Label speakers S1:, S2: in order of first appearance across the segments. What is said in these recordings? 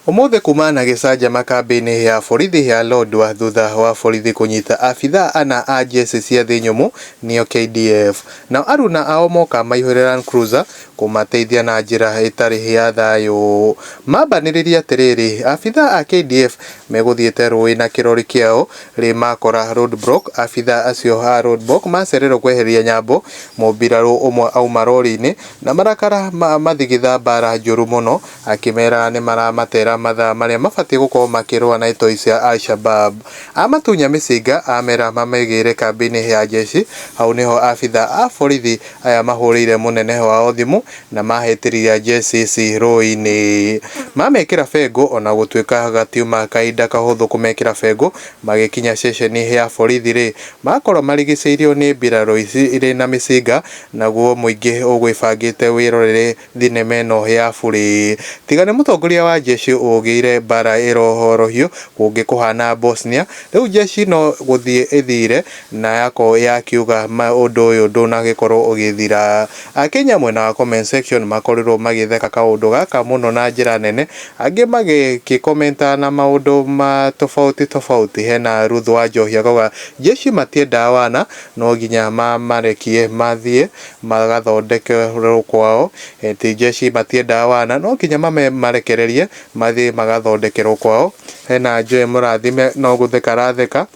S1: Ũmũthĩ kumana na gĩcanjama kambĩinĩ ya borithi ya Lodwar thutha wa borithi kũnyita abithaa ana a njeci cia thĩ nyũmũ nĩo KDF. Nao aruna ao moka maihũire Land Cruiser kũmateithia na njĩra ĩtarĩ ya thayũ. Mambanĩrĩria atĩrĩrĩ, abithaa a KDF megũthiĩte rũĩ na kĩrori kĩao rĩ makora roadblock, abithaa acio a roadblock macererwo kwehereria Nyambo, mũmbirarũ ũmwe auma roriinĩ na marakara mathigitha mbara njũru mũno. Akĩmera nĩmaramatera mathaa marĩa mabatiĩ gũkorwo makĩrũa na itoi cia Al-Shabaab. Amatunya mĩcinga amera mamegĩĩre kambĩ-inĩ ya njeshi. Hau nĩho abitha a borithi aya mahũrĩire mũnene wao thimũ na mahĩtĩria njeshi ici rũĩ-inĩ. Mamekĩra bengũ ona gũtuĩka gatiuma kahinda kahũthũ kũmekĩra bengũ. Magĩkinya ceceni ya borithi-rĩ, makora marigicĩirio nĩ mbirarũ ici irĩ na mĩcinga naguo mũingĩ ũgwĩbangĩte wĩrorere. Thinema ĩno ya bure. Tiga nĩ mũtongoria wa njeshi ũgĩire mbara ĩrohorohio kũngĩ kũhana Bosnia, rĩu njeshi no gũthiĩ ĩthire na yako ya kiuga ma ũndũ ũyũ ndũnagĩkorwo ũgĩthira. Akenya mwena wa comment section makorirwo magĩtheka kaũndũ gaka mũno na njĩra nene, angĩ magĩkĩ commenta na maũndũ ma tofauti tofauti hena Ruth Wanjohi akauga, Njeshi matiendaa wana, no nginya mamarekie mathiĩ. magathondekerwo kwao, ti njeci matiendaga wana no nginya marekererie mathiĩ magathondekerwo kwao, hena Joy Mũrathime no gũtheka aratheka,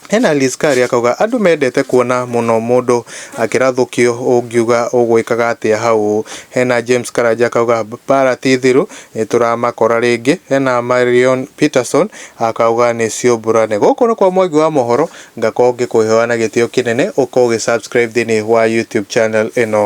S1: hena Liz Kari akauga andũ mendete kuona mũno mũndũ akĩrathũkio ũngiuga ũgwĩkaga atĩa hau, hena James Karanja akauga mbara ti thiru nĩtũramakora rĩngĩ, hena Marion Peterson akauga nĩ ciũmbũrane. Gũkũ nĩ kwa Mwangi wa mohoro Ngakorwo ngĩkũhoya na gĩtĩo kĩnene ũkorwo ũgĩ subscribe thĩinĩ wa YouTube channel ĩno.